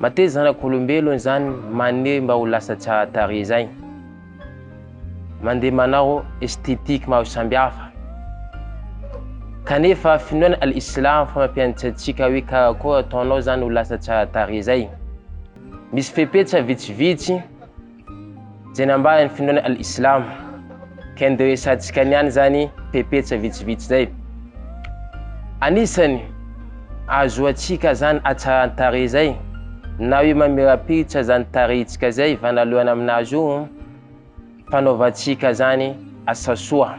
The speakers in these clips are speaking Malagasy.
Mateza zanak'olombelon izany maniry mba ho lasa tsara tarehy zay. Mandeha manao esthétique maro sambihafa. Kanefa finoana al islam fa mampianatra antsika hoe karakôry ataonao zany ho lasa tsara tarehy zay. Misy fepetra vitsivitsy. Jenambaran'ny finoana Al-Islam, ka ndeha horesahantsika ny any izany pepetsa vitsivitsy izay. Anisany ahazoantsika izany hatsaran-tarehy izay, na hoe mamirapiritra izany tarehintsika izay hivanalohana amin'azy io, fanaovantsika izany asa soa.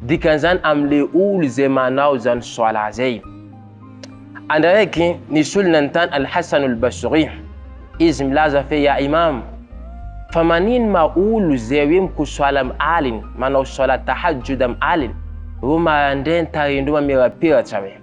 Dikan'izany amin'ilay olo izay manao izany Swala zay. Andro araiky nisy olo nanontany Al-Hasan Al-Basri, izy milaza fe Ya Imam, fa manino ma olo izay hoe mikosoala am aliny, manao Swala Tahajjud am aliny, ro maraindray ny tarehin-doha mamirapiratra hoe.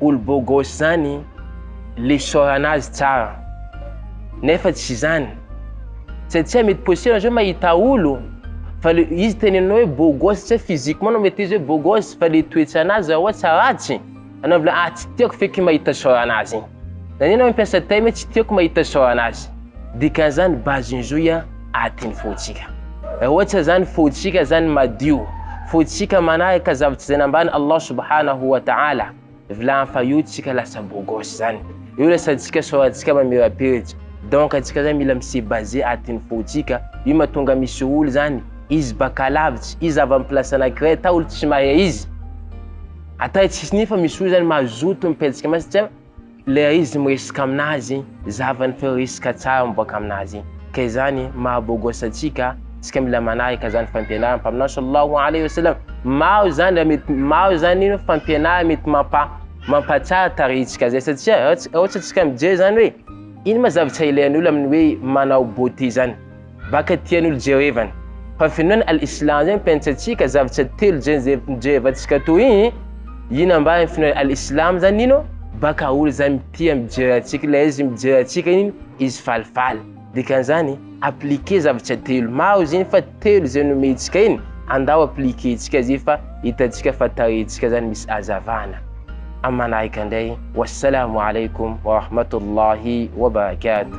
olo bogos zany le isaorana azy tsara nefa tsy zany satsia mety possible zao mahita olo fa le izy tenenao hoe bogos satsia physiquement no mety izy hoe bogos fa le toetsanazy raha ohatsa ratsy anao mivolaha ah tsy tiako feky mahita isaorana azy igny zany enao mampiasa teny hoe tsy tiako mahita isaorana azy dikan'izany base ny zohy a aty ny fontsika. Raha ohatra zany fontsika zany madio, fontsika manaraka zavatra zay nambaran' Allah subhanahu wa ta'ala, vilany fa io tsika lasa beau gosse zany, io lasa tsika soratsika mamirapiritsa, donc atsika zany mila mi se baser aty ny fontsika, io matonga misy olo zany izy baka lavitsy, izy avy am place anakiray ata olo tsy mahay izy, ata izy tsisy nefa misy olo zany mazoto mipetsaka amy azy satria, Ilay izy miresaka amin'azy, zahavany fa io resaka tsara miboaka amin'azy. Ka izany maha beau gosse antsika, tsika mila manaraka izany fampianaran'ny Mpaminany Sallallahu Alaihi Wasallam. Maro izany raha mety, maro izany ino fampianarana mety mampa, mampatsara tarehintsika izay satria raha, raha ohatra tsika mijery izany hoe ino ma zavatra ilain'olo amin'ny hoe manao beauté izany. Baka tian'olo Jehovah-ny. Fa finoana al-Islam zay mpiantsatsika zavatra telo zay zay Jehovatsika toy igny, ino ambany finoana al-Islam zany ino? Baka olo zay mitia mijery antsika ilay izy mijery antsika iny izy falifaly. Dikan'izany, appliquer zavatra telo. Maro izy iny fa telo izay nomentsika iny, andao appliquer-ntsika azy fa hitantsika fa tarehintsika zany misy hazavana. Am manaraka ndray, Wassalaamu Alaikum Warahmatullahi Wabarakatuh.